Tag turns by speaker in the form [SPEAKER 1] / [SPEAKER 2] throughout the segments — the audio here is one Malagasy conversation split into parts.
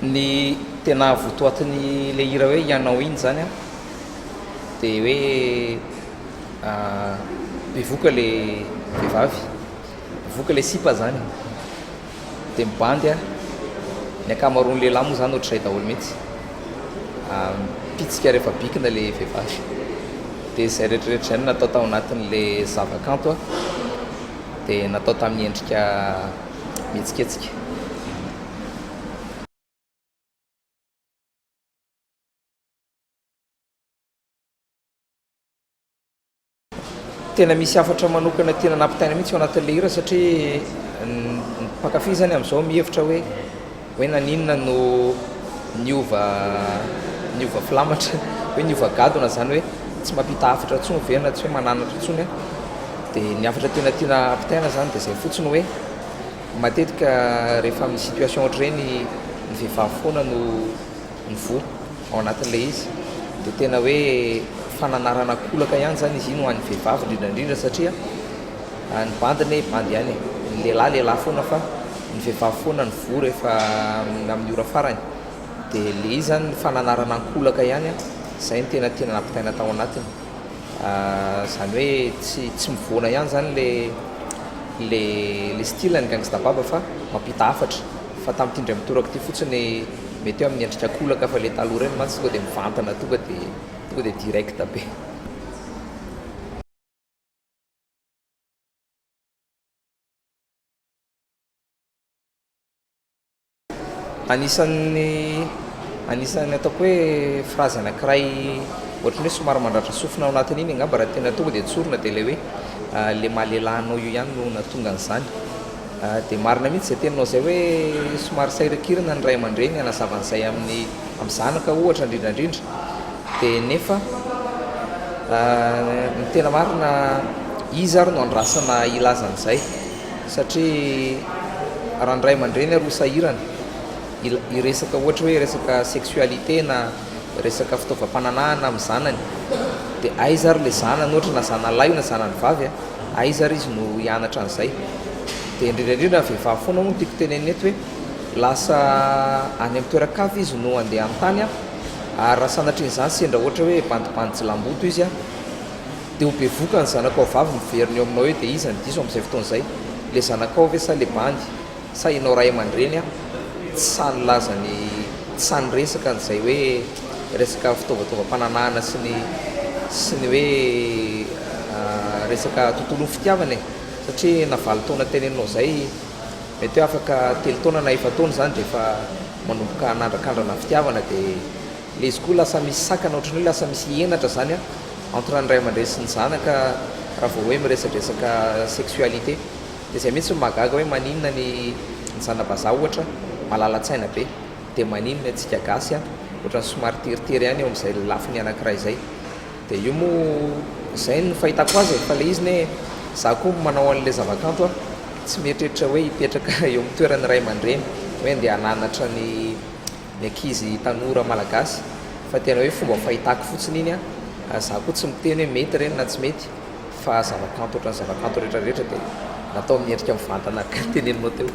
[SPEAKER 1] Ny tena votoatiny le hira hoe ianao iny zany an de hoe bevoka le vehivavy bevoka le sipa zany de mibandy an ny akamaroan'ny lehilahy moa zany ohatr'izay daholo mihitsy mipitsika rehefa bikina le vehivavy de zay rehetrarehetra zay no natao tao anatin'le zavakanto an de natao tamin'ny endrika mihetsiketsika. Lalana. Tena misy hafatra manokana tiana nampitaina mihitsy ao anatin'ilay hira satria ny mpankafy zany amin'izao mihevitra hoe hoe naninona no niova niova filamatra hoe niova gadona zany hoe tsy mampita hafatra intsony ve na tsy hoe mananatra intsony dia ny hafatra tena tiana ampitaina zany dia izay fotsiny hoe Matetika rehefa amin'ny situation ohatr'ireny ny vehivavy foana no mivoha ao anatin'ilay izy dia tena hoe fananarana an-kolaka ihany izany izy iny ho an'ny vehivavy indrindra indrindra satria ny bandy anie bandy ihany e, ny lehilahy lehilahy foana fa ny vehivavy foana no voa rehefa amin'ny ora farany dia ilay izy izany fananarana an-kolaka ihany an, izay no tena tiana nampitaina tao anatiny. Izany hoe tsy tsy mivoana ihany izany le le le style ny gangsta baba fa mampita hafatra fa tamin'ity indray mitoraka ity fotsiny mety hoe amin'ny endrika kolaka fa le taloha ireny mantsy tonga dia mivantana tonga dia tonga dia direct be. Anisan'ny anisan'ny ataoko hoe phrase anankiray ohatran'ny hoe somary mandratra sofina ao anatin'iny angamba raha tena tonga dia tsorina dia ilay hoe le maha lehilahy anao io ihany no nahatonga an'izany. Dia marina mihitsy izay teninao izay hoe somary sahirankirana ny ray aman-dreny hanazava an'izay amin'ny amin'ny zanaka ohatra indrindra indrindra dia nefa ny tena marina izy ary no andrasana hilaza an'izay. satria raha ny ray aman-dreny ary ho sahirana hiresaka ohatra hoe resaka sexualité na resaka fitaovam-pananahana amin'ny zanany dia aiza ary ilay zanany ohatra na zanalahy io na zanany vavy a, aiza ary izy no hianatra an'izay? dia indrindra indrindra ny vehivavy foana hono tiako tenenina eto hoe lasa any amin'ny toeran-kafa izy no andeha hanontany a, ary raha sanatrian'izany sendra ohatra hoe bandy bandy jilamboto izy a, Dia ho bevoka ny zanakao vavy miverina eo aminao eo dia iza ny diso amin'izay fotoana izay? Le zanakao ve sa le bandy? Sa ianao ray aman-dreny an? Tsy sahy nilaza ny tsy sahy niresaka an'izay hoe resaka fitaovataovam-pananahana sy ny sy ny hoe resaka tontolon'ny fitiavana e! Satria na valo taona teneninao izay mety hoe afaka telo taona na efa-taona izany dia efa manomboka hanandrakandrana ny fitiavana dia Le izy koa lasa misy sakana ohatran'ny hoe lasa misy henatra zany an entre ny ray aman-dreny sy ny zanaka raha vao hoe miresadresaka sexualité. De zay mihitsy no mahagaga hoe maninona ny ny zana-bazaha ohatra malala-tsaina be de maninona antsika gasy an ohatran'ny somary teritery ihany eo amin'izay lafiny anankiray izay. De io moa izay no fahitako azy e fa le izy ne za koa manao an'le zava-kanto an tsy mieritreritra hoe hipetraka eo amin'ny toeran'ny ray aman-dreny hoe andeha hananatra ny ny ankizy tanora malagasy fa tena hoe fomba fahitako fotsiny iny a, za koa tsy miteny hoe mety ireny na tsy mety fa zava-kanto ohatran'ny zava-kanto rehetra rehetra dia natao amin'ny endrika mivantana araka ny teneninao teo.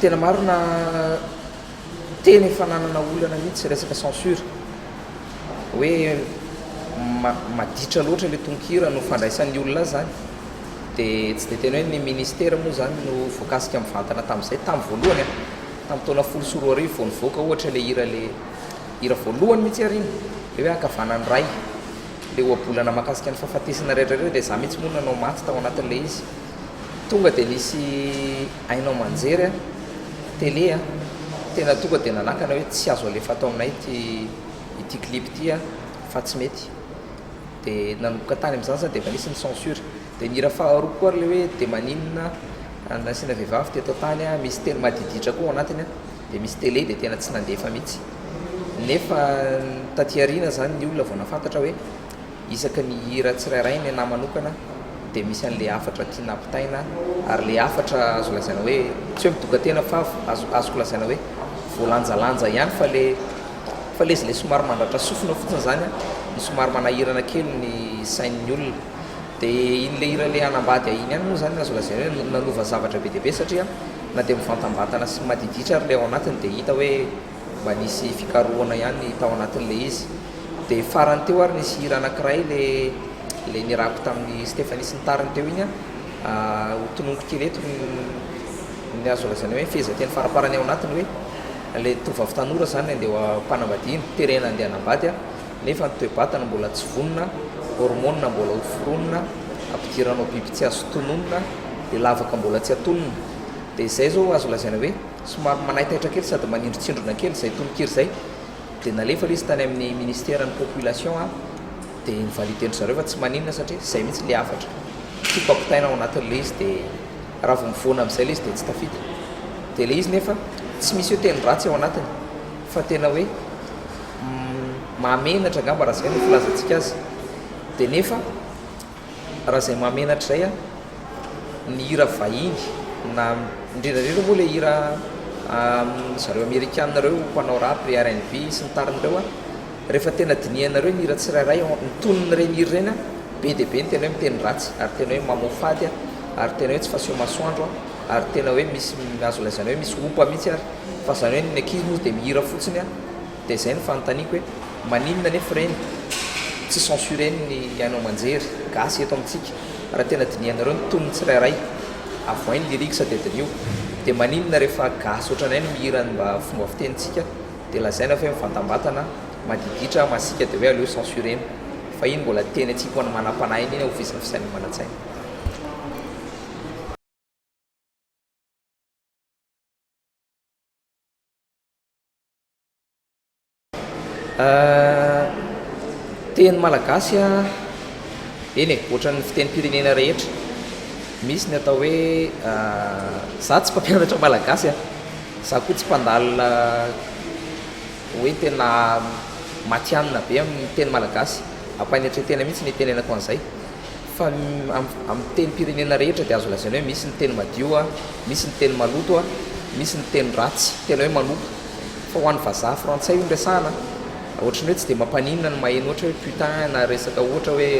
[SPEAKER 1] Tena marina tena efa nanana olana mihitsy resaka censure hoe maditra loatra le tononkira no fandraisan'ny olona azy zany de tsy de tena hoe ny ministera moa zany no voakasika mivantana tamin'izay tamin'ny voalohany an tamin'ny taona folo sy roa arivo vao nivoaka ohatra le hira le hira voalohany mihitsy ary iny le hoe ankavanan'ny ray le ohabolana mahakasika ny fahafatesana rehetra reo de za mihitsy moa nanao maty tao anatin'ilay izy Tonga dia nisy haino aman-jery an, télé an, tena tonga dia nanakana hoe tsy azo alefa ato aminay ity ity clip ity an fa tsy mety. Dia nanomboka tany amin'izany izany dia efa nisy ny censure. Dia ny hira faharoa koa ary ilay hoe dia maninona an nasiana vehivavy teto an-tany an, misy teny madiditra koa ao anatiny an, dia misy télé dia tena tsy nandefa mihitsy. Nefa taty aoriana izany ny olona vao nahafantatra hoe. Isaky ny hira tsirairay ny anah manokana dia misy an'ilay hafatra tiana ampitaina ary ilay hafatra azo lazaina hoe tsy hoe midoka-tena fa azo azoko lazaina hoe voalanjalanja ihany fa ilay fa ilay izy ilay somary mandratra sofina fotsiny izany an, ny somary manahirana kely ny sain'ny olona dia iny ilay hira ilay hanambady ahy iny ihany moa izany no azo lazaina hoe nanova zavatra be dia be satria na dia mivantambatana sy madiditra ary ilay ao anatiny dia hita hoe mba nisy fikarohana ihany tao anatin'ilay izy. Dia farany teo ary nisy hira anankiray ilay ilay nirapy tamin'i Stephanie sy ny tariny teo iny an, ho tononiko kely eto ny ny azo lazaina hoe ny fehezanteny faraparany ao anatiny hoe ilay tovovavy tanora izany ilay andeha am-panambadiana, terena andeha hanambady an, nefa ny toe-batana mbola tsy vonona, hormonina mbola ho foronina, ampidirana ho biby tsy azo tononina, dia lavaka mbola tsy atonina. Dia izay izao azo lazaina hoe. Somary manaitaitra kely sady manindrontsindrona kely izay tononkira izay dia nalefa ilay izy tany amin'ny ministeran'ny population aho dia ni-valider-ndry zareo fa tsy maninona satria izay mihitsy ilay hafatra tiako ampitaina ao anatin'ilay izy dia raha vao mivoana amin'izay ilay izy dia tsy tafita dia ilay izy nefa tsy misy hoe teny ratsy ao anatiny fa tena hoe mahamenatra angamba raha izay no filazantsika azy dia nefa Raha izay mahamenatra izay an, ny hira vahiny na indrindra indrindra moa ilay hira zareo amerikana ireo mpanao rap, ry RNV sy ny tariny ireo an, rehefa tena dinihanareo ny hira tsirairay, ny tonon'ireny hira ireny an, be dia be ny tena hoe miteny ratsy ary tena hoe mamoafady an, ary tena hoe tsy faseho masoandro an, ary tena hoe misy, azo lazaina hoe misy opa mihitsy ary, fa izany hoe ny ankizy moa dia mihira fotsiny an. Dia izay no fanontaniako hoe maninona anefa re no tsy censurer ny haino aman-jery gasy eto amintsika? Raha tena dinihanareo ny tonony tsirairay, avohay ny lyrics dia diniho. Dia maninona rehefa gasy ohatranay no mihira ny mba fomba fitenintsika dia lazaina fa hoe mivantambatana, madiditra, masiaka dia hoe aleo censurer-na? Fa iny mbola teny atsipy ho an'ny manam-panahiny iny hofisafisain'ny manan-tsaina. Teny malagasy a, eny e, ohatran'ny fitenim-pirenena rehetra, misy ny atao hoe, izaho tsy mpampianatra malagasy a, izaho koa tsy mpandalina hoe tena matihanina be amin'ny teny malagasy, ampanetre-tena mihitsy no itenenako an'izay. Fa ny amin'ny tenim-pirenena rehetra dia azo lazaina hoe misy ny teny madio, misy ny teny maloto, misy ny teny ratsy, tena hoe manompo. Fa ho an'ny vazaha frantsay io no resahana, ohatry ny hoe tsy dia mampaninona ny maheno ohatra hoe putain na resaka ohatra hoe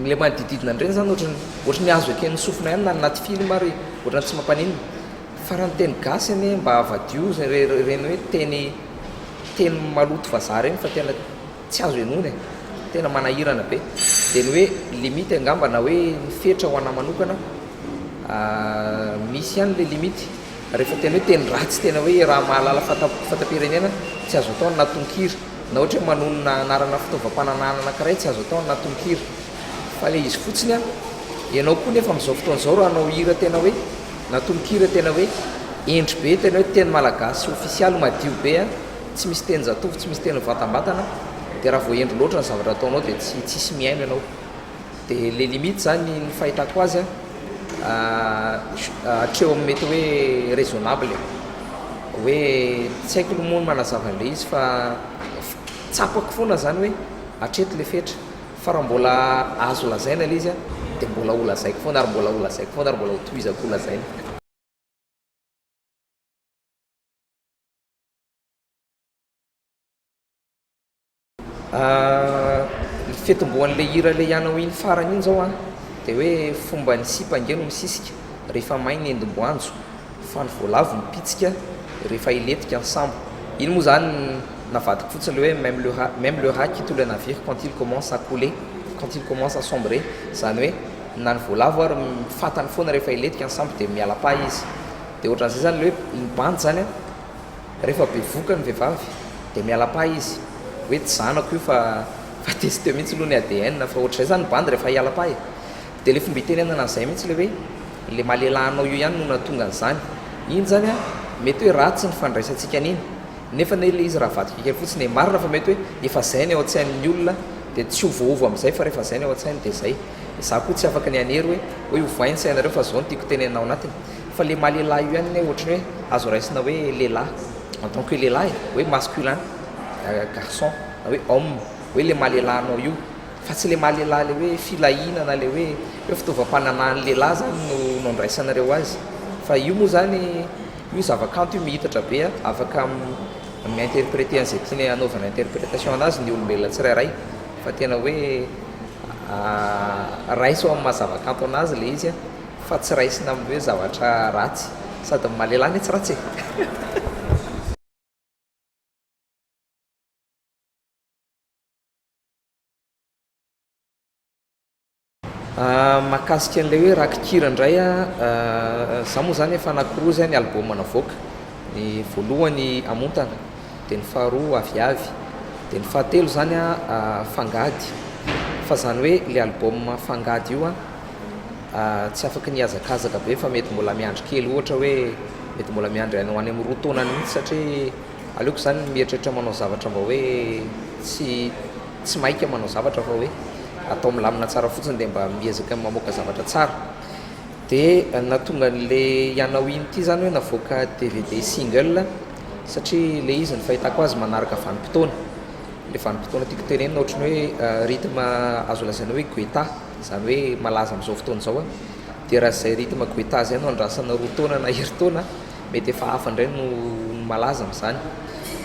[SPEAKER 1] ilay manodidididina an'ireny izany ohatry ny ohatry ny azo eken'ny sofina ihany na ny anaty film ary ohatran'ny tsy mampaninona. Fa raha ny teny gasy anie mba avadioo ireny hoe teny teny maloto vazaha ireny fa tena tsy azo henoina e! tena manahirana be dia ny hoe limite angamba na hoe ny fetra ho anà manokana misy ihany ilay limite rehefa tena hoe teny ratsy tena hoe raha mahalala fahatapirenena tsy azo atao ny natonkira na ohatra hoe manonona anarana fitaovam-pananahana anankiray tsy azo atao ny natonkira fa ilay izy fotsiny an ianao koa nefa amin'izao fotoana izao raha anao hira tena hoe natonkira tena hoe hendry be tena hoe teny malagasy ofisialy madio be an tsy misy tenin-jatovo, tsy misy teny mivantambatana, dia raha voahendry loatra ny zavatra ataonao dia tsy tsisy mihaino ianao. Dia le limite zany ny fahitako azy hatreo amin'ny mety hoe raisonnable e. Hoe tsy haiko aloha moa ny manazava an'le izy fa tsapako foana zany hoe hatreto le fetra fa raha mbola azo lazaina le izy dia mbola ho lazaiko foana ary mbola ho lazaiko foana ary mbola ho tohizako ho lazaina. Ny fitomboan'ilay hira ilay anao iny farany iny izao an, dia hoe fomba ny sipa ange no misisika rehefa may ny endimboanjo, fa ny voalavo mipitsika rehefa hilentika ny sambo. Iny moa izany navadiko fotsiny ilay hoe même le rat, même le rat qui tue le navire quand il commence à couler, quand il commence à sombrer, izany hoe na ny voalavo ary fantany foana rehefa hilentika ny sambo dia miala-paha izy. Dia ohatran'izay izany ilay hoe iny bandy izany an! Rehefa bevoka ny vehivavy dia miala pahy izy hoe tsy zanako io fa fa tester mihitsy aloha ny ADN fa ohatran'izay izany ny bandy rehefa hiala pahy e! Dia ilay fomba itenenana an'izay mihitsy ilay hoe ilay malelahanao io ihany no nahatonga an'izany. Iny izany an, mety hoe ratsy ny fandraisantsika an'iny nefa anie ilay izy raha vadiko kely fotsiny e! Marina fa mety hoe efa izay ny ao an-tsain'ny olona dia tsy ovaova amin'izay fa rehefa izay ny ao an-tsainy dia izay. Za ko tsy afaka ny hanery hoe hoe ovainy sainareo fa zao no tiako tenenina ao anatiny fa le maha lehilahy io ihany ne ohatrany hoe azo raisina hoe lehilahy en tant que lehilahy e hoe masculin garçon na hoe homme hoe le maha lehilahy anao io fa tsy le maha lehilahy le hoe filahiana na le hoe hoe fitaovam-pananahan'ny lehilahy zany no no andraisanareo azy fa io moa zany io zava-kanto io mihitatra be a afaka mi-interpreter an'izay tiany hanaovana interpretation anazy ny olombelona tsirairay fa tena hoe Raiso amin'ny maha zavakanto anazy ilay izy fa tsy raisina amin'ny hoe zavatra ratsy. Sady ny maha lehilahy anie tsy ratsy e! Mahakasika an'ilay hoe rakikira indray an, za moa zany efa anakiroa zay ny album navoaka. Ny voalohany amontana, dia ny faharoa aviavy, dia ny fahatelo zany a fangady, fa zany hoe le album fangady io a tsy afaka ny hiazakazaka be fa mety mbola miandry kely ohatra hoe mety mbola miandry any amin'ny roa taona mihintsy satria aleoko zany ny mieritreritra manao zavatra mba hoe tsy tsy maika manao zavatra fa hoe atao milamina tsara fotsiny dia mba miezaka mamoaka zavatra tsara. De nahatonga an'le ianao iny ity zany hoe navoaka dvd single satria le izy ny fahitako azy manaraka vanim-potoana, le vanim-potoana tiako tenenina ohatry ny hoe rythme azo lazaina hoe guetta zany hoe malaza am'zao fotoana zao an, de raha zay rythme guetta zay no andrasana roa taona na herintaona mety efa hafa ndray no malaza am'zany,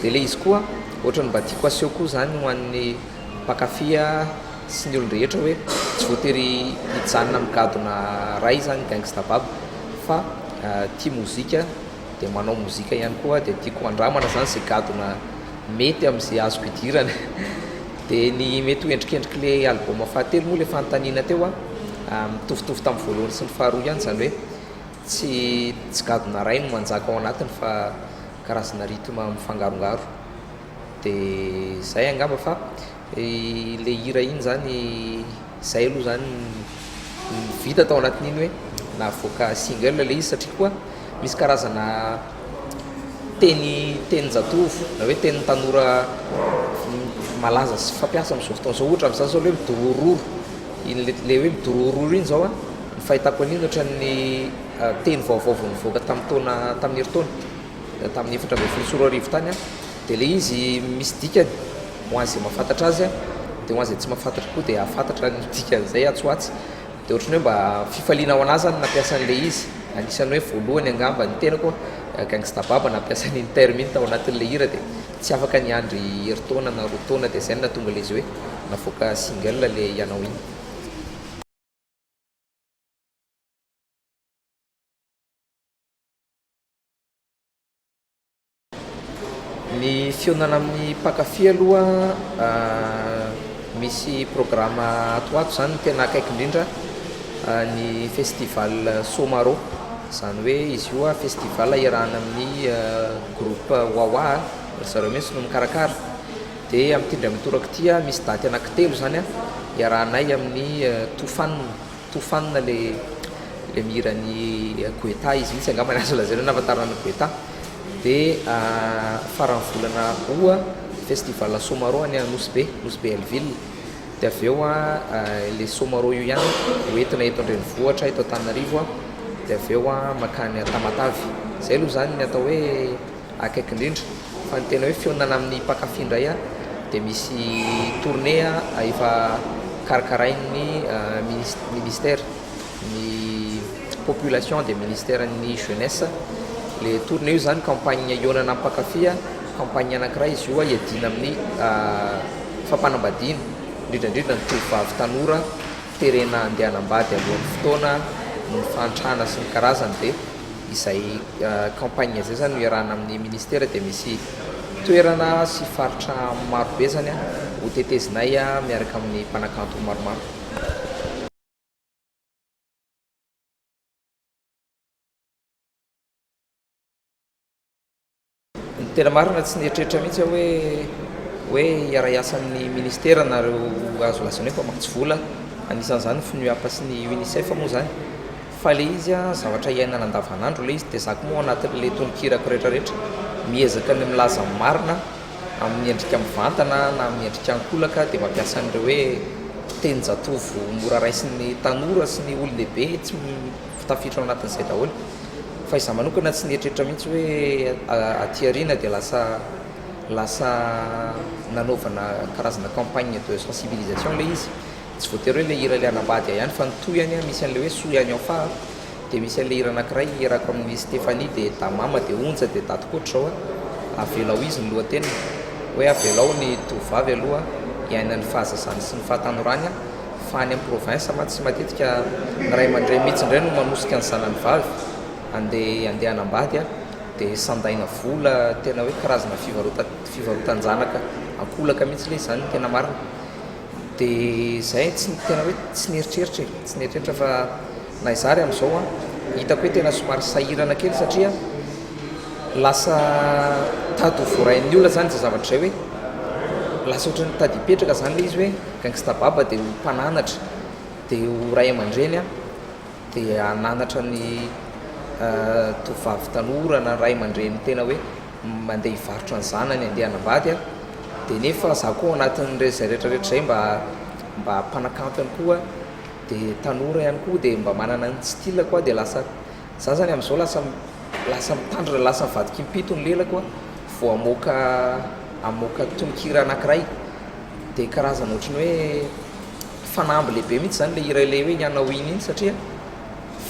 [SPEAKER 1] de le izy koa ohatry ny mba tiako aseho koa zany ho an'ny mpankafy sy ny olon-drehetra hoe tsy voatery hijanona migadona ray izany Gangsta Bab fa tia mozika dia manao mozika ihany koa dia tiako handramana izany izay gadona mety amin'izay azoko idirana dia ny mety ho endrikendrik'ilay album fahatelo moa ilay fanontaniana teo a mitovitovy tamin'ny voalohany sy ny faharoa ihany izany hoe tsy tsy gadona ray no manjaka ao anatiny fa karazana rythme mifangarongaro dia izay angamba fa Ilay hira iny izany, izay aloha izany ny vita tao anatin'iny hoe navoaka single ilay izy satria koa misy karazana teny tenin-jatovo na hoe tenin'ny tanora malaza sy fampiasa amin'izao fotoana izao. Ohatra amin'izany izao ny hoe midorororo, iny le- le hoe midorororo iny izao a, ny fahitako an'iny ohatran'ny teny vaovao vao nivoaka tamin'ny taona tamin'ny herintaona. tamin'ny efatra ambin'ny folo sy roa arivo tany aho dia ilay izy misy dikany ho an'izay mahafantatra azy an dia ho an'izay tsy mahafantatra koa dia hahafantatra ny dikan'izay atsy ho atsy dia ohatran'ny hoe mba fifaliana ho an'ahy izany ny nampiasa an'ilay izy anisan'ny hoe voalohany angamba ny tenako an gangsta baba nampiasa an'iny terme iny tao anatin'ilay hira dia tsy afaka niandry herintaona na roa taona dia izay no nahatonga ilay izy hoe navoaka single ilay ianao iny Ny fihaonana amin'ny mpankafy aloha misy programa ato ho ato izany ny tena akaiky indrindra ny festival Somaro, izany hoe izy io festival iarahana amin'ny groupe Wawa a, ry zareo mihitsy no mikarakara, dia amin'ity indray mitoraka ity misy daty anankitelo izany iarahanay amin'ny Tofanona. Tofanina le le mihira ny Guetta izy mihitsy angamba ny azo lazaina hoe nahafantarana an'i Guetta dia faran'ny volana août festival Somarô any Nosy Be, Nosy Be Hellville dia avy eo ilay Somarô io ihany ho entina eto an-drenivohitra eto Antananarivo dia avy eo mankany Tamatave, izay aloha izany ny atao hoe. Akaiky indrindra. Fa ny tena hoe fihaonana amin'ny mpankafy indray dia misy tournée efa karakarain'ny ministère ny population dia ministère ny jeunesse ilay tournée io izany campagne hihaonana amin'ny mpankafy campagne anankiray izy io hiadiana amin'ny fampanambadiana indrindra indrindra ny tovovavy tanora terena handeha hanambady alohan'ny fotoana ny fahantrana sy ny karazany dia izay campagne izay zany no iarahana amin'ny ministera dia misy toerana sy faritra maro be zany ho tetezinay miaraka amin'ny mpanakanto maromaro. Tena marina, tsy nieritreritra mihitsy aho hoe hoe hiara-hiasa amin'ny Ministera nareo azo lazaina hoe mpamatsy vola, anisan'izany ny FNUAP sy ny UNICEF moa izany, fa ilay izy an, zavatra iainana andavanandro ilay izy, dia za koa moa anatin'ilay tononkirako rehetrarehetra, miezaka ny milaza ny marina amin'ny endrika mivantana na amin'ny endrika ankolaka, dia mampiasa an'ireo hoe tenin-jatovo mora raisin'ny tanora sy ny olon-dehibe tsy Tafiditra ao anatin'izay daholo. Fa izaho manokana tsy nieritreritra mihitsy hoe aty aoriana dia lasa lasa nanaovana karazana campagne de sensibilisation ilay izy. Tsy voatery hoe ilay hira ilay hanambady ahy ihany fa ny tohiny an, misy an'ilay hoe soa ihany ao fa dia misy an'ilay hira anankiray hierako amin'i Stéphanie dia Damama dia Onja dia Daty koa ohatr'izao a, avelao izy ny lohateniny hoe avelao ny tovovavy aloha hiaina ny fahazazany sy ny fahatanorany a. Fa any am province mantsy matetika ny ray aman-dreny mihitsy indray no manosika ny zanany vavy andeha andeha hanambady a! dia sandaina vola tena hoe karazana fivarotana fivarotan-janaka ankolaka mihitsy ilay izany ny tena marina dia izay tsy tena hoe tsy nieritreritra e! tsy nieritreritra fa Na izaho ary amin'izao an, hitako hoe tena somary sahirana kely satria lasa tady ho voarain'ny olona izany izay zavatra izay hoe lasa ohatran'ny tady hipetraka izany ilay izy hoe gangsta baba dia ho mpananatra dia ho ray aman-dreny an, dia hananatra ny tovovavy tanora na ray aman-dreny tena hoe mandeha hivarotra ny zanany handeha hanambady an, dia nefa izaho koa ao anatin'izay rehetra rehetra izay mba mba mpanakanto ihany koa. de tanora ihany koa de mba manana ny style-ko aho de lasa za zany amzao lasa lasa mitandrina lasa mivadiky impito ny lelako a vao hamoaka hamoaka tononkira anankiray de karazana ohatry ny hoe fanamby lehibe mihitsy zany le hira ilay hoe ny anao iny iny satria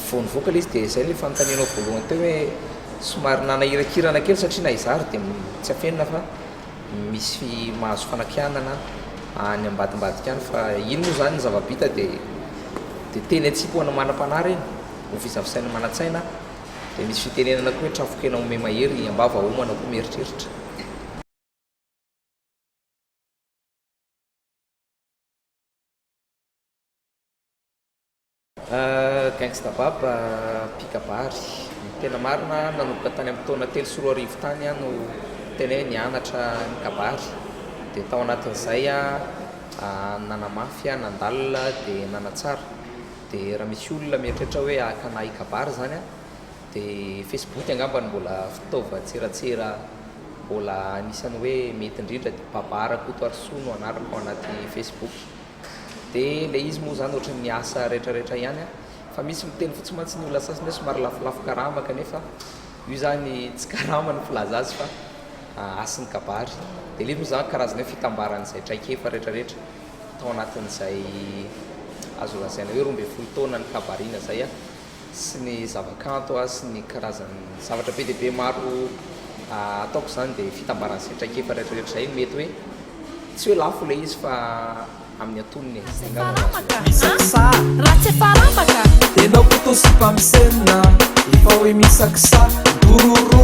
[SPEAKER 1] vao nivoaka le izy de zay le fanontanianao voalohany teo hoe somary nanahirankirana kely satria na izaho ary de tsy afenina fa Misy mahazo fanakianana any ambadimbadika any fa iny moa izany ny zava-bita dia dia teny an-tsipy ho an'ny manam-panahy ireny, hovisavisain'ny manan-tsaina, dia misy fitenenana koa hoe trafon-kena omey mahery, am-bava homana koa mieritreritra. Gangsta Bab mpikabary. Ny tena marina nanomboka tany amin'ny taona telo sy roa arivo tany aho no tena hoe nianatra ny kabary dia tao anatin'izay aho nanamafy aho nandalina dia nanatsara dia raha misy olona mieritreritra hoe hakana hikabary izany dia Facebook angamba no mbola fitaovan-tserasera mbola anisan'ny hoe mety indrindra dia Baba Rakotoarisoa no anarako ao anaty Facebook. De le izy moa zany ohatry ny asa rehetra rehetra ihany an! Fa misy miteny fotsiny mantsy ny olona sasany hoe somary lafolafo karama kanefa io zany tsy karama no filaza azy fa hasin'ny kabary! De le izy moa zany karazana hoe fitambaran'izay traikefa rehetra rehetra tao anatin'izay azo lazaina hoe roa ambin'ny folo taona nikabarina zay an! sy ny zavakanto ary sy ny karazan'ny zavatra be dia be maro ataoko izany dia fitambaran'ny izay traikefa rehetrarehetra izay mety hoe tsy hoe lafo ilay izy fa amin'ny antonony e, izay angamba no azo iantsoana. Misaksa
[SPEAKER 2] raha tsy efa rambaka. Enao koto
[SPEAKER 3] sy mpamosena efa hoe misaksa. Dororo.